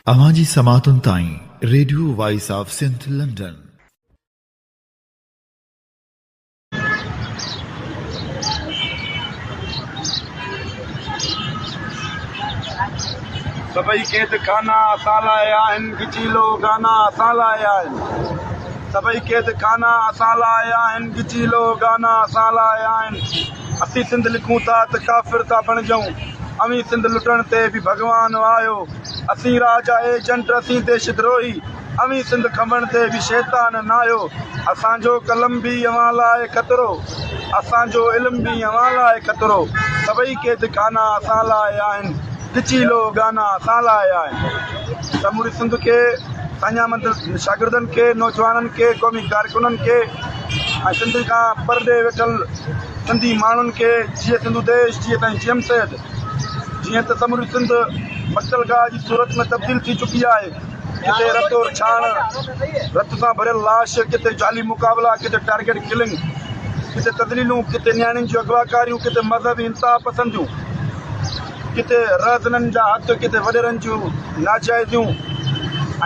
اوهان جي سماعتن تائين radio voice of Sindh London. سڀئي قيد خانا اسان لاء آهن گچيلو گانا اسان لاء آهن سڀئي قيد خانا اسان لاء آهن گچيلو گانا اسان لاء آهن اسين سنڌ لکون ٿا ته ڪافر ٿا بڻجون اوهين سنڌ لٽڻ تي به ڀڳوان آهيو اسين راجا ايجنٽ اسين ديش دروهي اوهين سنڌ کنڀڻ تي به شيطان نه آهيو. اسان جو قلم به اوهان لاء خطرو، اسان جو علم به اوهان لاء خطرو. سڀئي قيد خانا اسان لاء آهن، ڳچي لو گانا اسان لاء آهن. سموري سنڌ کي سائين احمد شاگردن کي نوجوانن کي قومي ڪارڪنن کي ۽ سنڌ کان پرڏيهه ويٺل سنڌي ماڻهن کي جيئي سنڌو ديش جيئي سائين جيئم سيد جيئن ته سموري سنڌ مقتل گاهه جي صورت ۾ تبديل ٿي چڪي آهي. ڪٿي رت اور ڇاڻ، رت سان ڀريل لاش، ڪٿي جعلي مقابلا، ڪٿي ٽارگيٽ ڪلنگ، ڪٿي تذليلون، ڪٿي نياڻين جون اغواڪاريون، ڪٿي مذهبي انتها پسنديون، ڪٿي رهزنن جا هٿ، ڪٿي وڏيرن جون ناجائزيون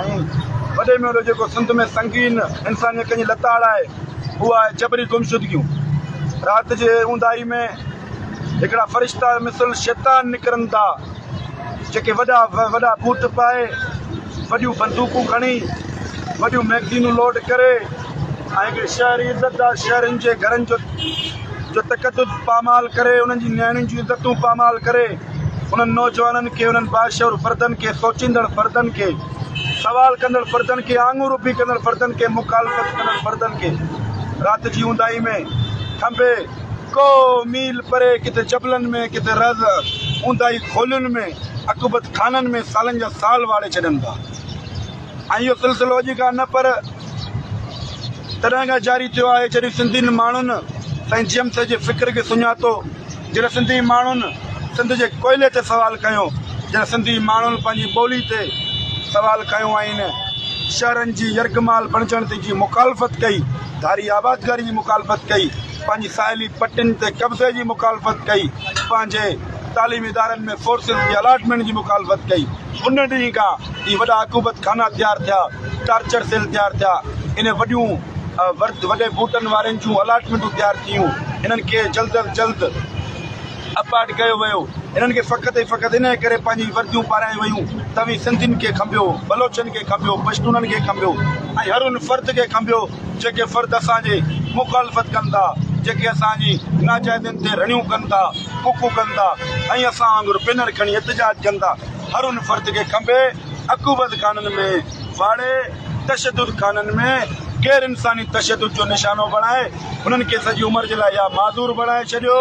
۽ وڏي ۾ وڏو جيڪو سنڌ ۾ سنگين انسانيت جي لتاڙ آهي اهو آهي جبري گمشدگيون. رات جي اونداهي ۾. هڪڙا فرشتا مثل شيطان نڪرن ٿا، جيڪي وڏا وڏا بوٽ پائي، وڏيون بندوقون کڻي، وڏيون مئگزينون لوڊ ڪري ۽ هڪڙي شهري عزتدار شهرين جي گهرن جو تقدس پامال ڪري، انهن جي نياڻين جون عزتون پامال ڪري، انهن نوجوانن کي، انهن باشعور فردن کي، سوچيندڙ فردن کي، سوال ڪندڙ فردن کي، آڱر اڀي ڪندڙ فردن کي، مخالفت ڪندڙ فردن کي رات جي اونداهي ۾ ٿنڀي، ڪو ميل پري ڪٿي جبلن ۾ ڪٿي رز اونداهي خولين ۾ عقوبت خانن ۾ سالن جا سال واڙي ڇڏن ٿا ۽ اهو سلسلو اڄ کان نه پر تڏهن کان جاري ٿيو آهي جڏهن سنڌين ماڻهن سائين جيم سي جي فڪر کي سڃاتو جڏهن سنڌي ماڻهن سنڌ جي ڪوئلي تي سوال کنيو جڏهن سنڌي ماڻهن پنهنجي ٻولي تي سوال کنيو آهن شهرن جي يرغمال بڻجڻ تي جي مخالفت ڪئي ڌاري آبادگاري جي مخالفت ڪئي، پنهنجي ساحلي پٽين تي قبضي جي مخالفت ڪئي، پنهنجي تعليمي ادارن ۾ فورسز جي الاٽمينٽ جي مخالفت ڪئي. ان ڏينهن کان هي وڏا عقوبت خانا تيار ٿيا، ٽارچر سيل تيار ٿيا، انهن وڏيون وڏي بوٽن وارين جون الاٽمينٽون تيار ٿيون، انهن کي جلد از جلد. اپارٽ ڪيو ويو. انهن کي فقط ۽ فقط انهيء ڪري پنهنجي ورديون پارائيون ويون ته اوهين سنڌين کي کنڀيو، بلوچن کي کنڀيو، پشتونن کي کنڀيو ۽ هر ان فرد کي کنڀيو جيڪي فرد اسان جي مخالفت ڪن ٿا، جيڪي اسان جي ناجائدين تي رڙيون ڪن ٿا، ڪڪون ڪن ٿا ۽ اسان وانگر بينر کڻي احتجاج ڪن ٿا. هر ان فرد کي کنڀي، عقوبت خانن ۾ واڙي، تشدد خانن ۾ غير انساني تشدد جو نشانو بڻائي، هنن کي سڄي عمر جي لاء يا معذور بڻائي ڇڏيو.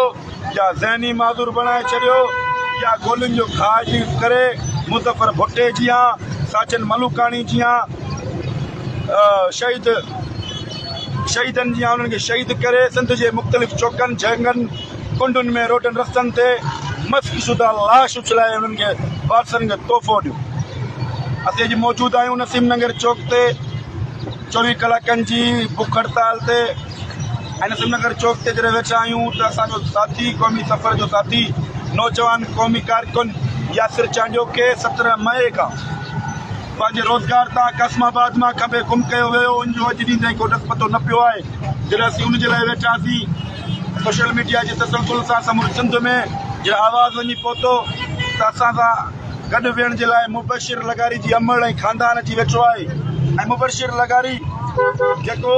يا ذهني معذور بڻائي ڇڏيو يا گولين جو کاء جي ڪري مظفر ڀٽي جيان، ساجن ملوڪاڻي جيان شهيد شهيدن جيان انهن کي شهيد ڪري سنڌ جي مختلف چوڪن جهنگن ڪنڊن ۾ روڊن رستن تي مسخ شده لاش اڇلائي انهن کي وارثن کي تحفو ڏيو. اسين اڄ موجود آهيون نسيم ننگر چوڪ تي چوويهه ڪلاڪن جي بک هڙتال تي. انيسن نگر چوڪ تي جڏهن ويٺا آهيون ته اسان جو ساٿي قومي سفر جو ساٿي نوجوان قومي ڪارڪن ياسر چانڊيو کي سترهن مئي کان پنهنجي روزگار تان قاسم آباد مان کنڀي گم ڪيو ويو ان جو اڄ ڏينهن تائين ڪو ڏس پتو نه پيو آهي جڏهن اسين ان جي لاء ويٺاسين سوشل ميڊيا جي تسلسل سان سموري سنڌ ۾ جڏهن آواز وڃي پهتو ته اسان سان گڏ ويهڻ جي لاء مبشر لغاري جي امڙ ۽ خاندان اچي ويٺو آهي ۽ مبشر لغاري جيڪو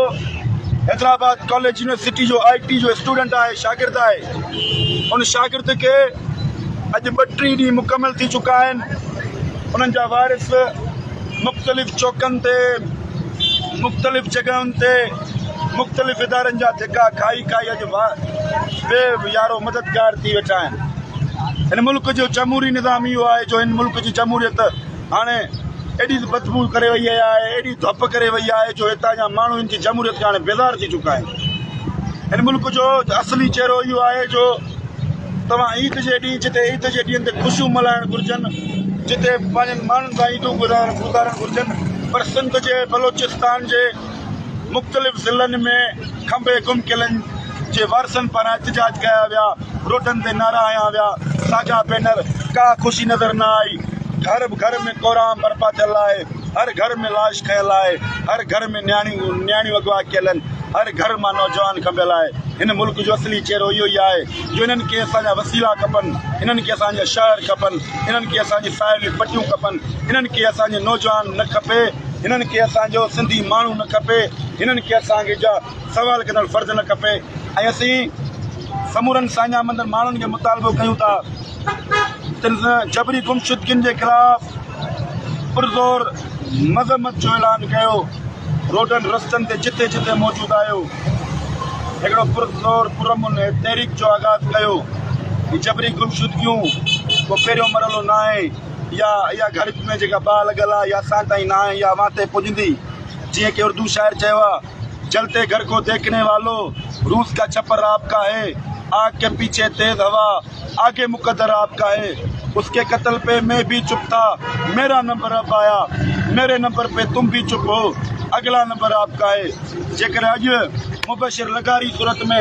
حيدرآباد ڪاليج يونيورسٽي جو آء ٽي جو اسٽوڊنٽ آهي شاگرد آهي ان شاگرد کي اڄ ٻه ٽي ڏينهن مڪمل ٿي چڪا آهن انهن جا وارث مختلف چوڪن تي مختلف جڳهن تي مختلف ادارن جا ڌڪا کائي کائي اڄ بي يارو مددگار ٿي ويٺا آهن هن ملڪ جو جمهوري نظام اهو آهي جو هن ملڪ جي جمهوريت هاڻي ايڏي بدبو ڪري وئي آهي ايڏي ڌپ ڪري وئي آهي جو هتان جا ماڻهو هن جي جمهوريت کان هاڻي بيزار ٿي چڪا آهن هن ملڪ جو اصلي چهرو اهو آهي جو توهان عيد جي ڏينهن جتي عيد جي ڏينهن تي خوشيون ملهائڻ گهرجن، جتي پنهنجن ماڻهن سان عيدون گذارڻ گهرجن پر سنڌ جي بلوچستان جي مختلف ضلعن ۾ کنڀي گم قلعن جي وارثن پاران احتجاج ڪيا ويا، روڊن تي نعرا هنيا ويا، ساڳيا بينر، ڪا خوشي نظر نه آئي، گهر گهر ۾ ڪورام برپا ٿيل آهي، هر گهر ۾ لاش کنيل آهي، هر گهر ۾ نياڻيون اغوا ڪيل آهن، هر گهر مان نوجوان کنڀيل آهي. هن ملڪ جو اصلي چهرو اهو ئي آهي جو هنن کي اسان جا وسيلا کپن، هنن کي اسان جا شهر کپن، هنن کي اسان جي ساحلي پٽيون کپن، هنن کي اسان جو نوجوان نه کپي، هنن کي اسان جو سنڌي ماڻهو نه کپي، هنن کي اسان جا سوال ڪندڙ فرد نه کپي ۽ اسين سمورن ساڃاهه مندڙ ماڻهن کي مطالبو ڪيون ٿا. تن سان جبري گمشدگين جي خلاف پرزور مذمت جو اعلان ڪيو، روڊن رستن تي جتي جتي موجود آيو هڪڙو پرزور پرامن تحريڪ جو آغاز ڪيو، هي جبري گمشدگيون ڪو پهريون مرحلو ناهي يا اها گهڙج ۾ جيڪا باهه لڳل آهي يا اسان تائين ناهي يا اوهان تي پڄندي جيئن ڪي اردو شاعر چيو آهي. چلتي گهر ڪو ديکني والو روز ڪا ڇپر آپ ڪا هي آگ ڪي پيڇي تيز هوا آگي مقدر آپ ڪا هي اس ڪي قتل پي مين ڀي چپ ٿا ميرا نمبر اب آيا ميري نمبر پي تم ڀي چپ هو اگلا نمبر آپ ڪا هي جيڪڏهن اڄ مبشر لغاري صورت ۾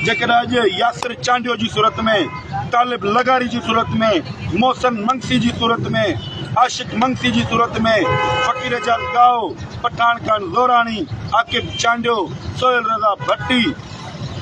جيڪڏهن اڄ ياسر چانڊيو جي صورت ۾ طالب لغاري جي صورت ۾ محسن منگسي جي صورت ۾ عاشق منگسي جي صورت ۾ فقير جان ڳائو پٺاڻ خان زوراڻي، عاقب چانڊيو، سهيل رضا ڀٽي،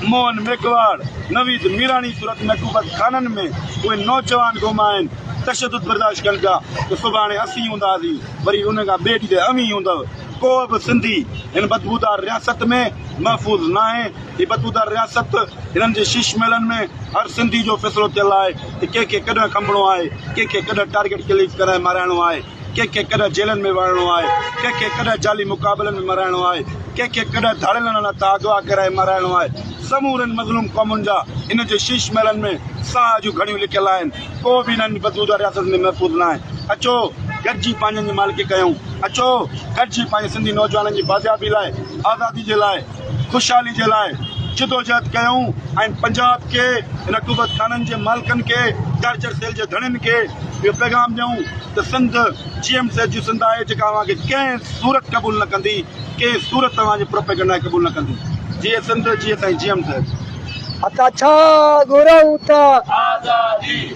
موهن ميگهواڙ، نويد ميراڻي صورت محبوبت خانن ۾ اهي نوجوان گم آهن، تشدد برداشت ڪن پيا ته سڀاڻي اسين هونداسين وري انهن کان ٻئي ڏينهن اوهين ئي هوندؤ، ڪو به سنڌي هن بدبودار رياست ۾ محفوظ ناهي، هي بدبودار رياست هنن جي شيش محلن ۾ هر سنڌي جو فيصلو ٿيل آهي ته ڪنهن کي ڪڏهن کنڀڻو آهي، ڪنهن کي ڪڏهن ٽارگيٽ ڪليڪ ڪرائي مارائڻو آهي. ڪنهن کي ڪڏهن جيلن ۾ وهائڻو آهي، ڪنهن کي ڪڏهن جعلي مقابلن ۾ مرائڻو آهي، ڪنهن کي ڪڏهن ڌاڙيل نالا تان اغوا ڪرائي مارائڻو آهي. سمورين مظلوم قومن جا هن جي شيش محلن ۾ ساهه جون گهڙيون لڪيل آهن. ڪو به انهن جي بدبودار رياست ۾ محفوظ نه آهي. اچو گڏجي پنهنجن جي مالڪي ڪيون. اچو گڏجي پنهنجي سنڌي نوجوانن جي بازيابي لاء، آزادي جي لاء، خوشحالي جي لاء جدوجهد ڪيائون ۽ پنجاب کي، هن قوت خانن جي مالڪن کي، ٽارچر سيل جي ڌڻين کي اهو پيغام ڏيائون ته سنڌ جي ايم سي جي سنڌ آهي جيڪا اوهان کي ڪنهن صورت قبول نه ڪندي، ڪنهن صورت اوهان جي پروپيگنڊا کي قبول نه ڪندي. جيئي سنڌ، جيئي سائين جي ايم سي. اتا ڇا گهرئون ته. آزادي.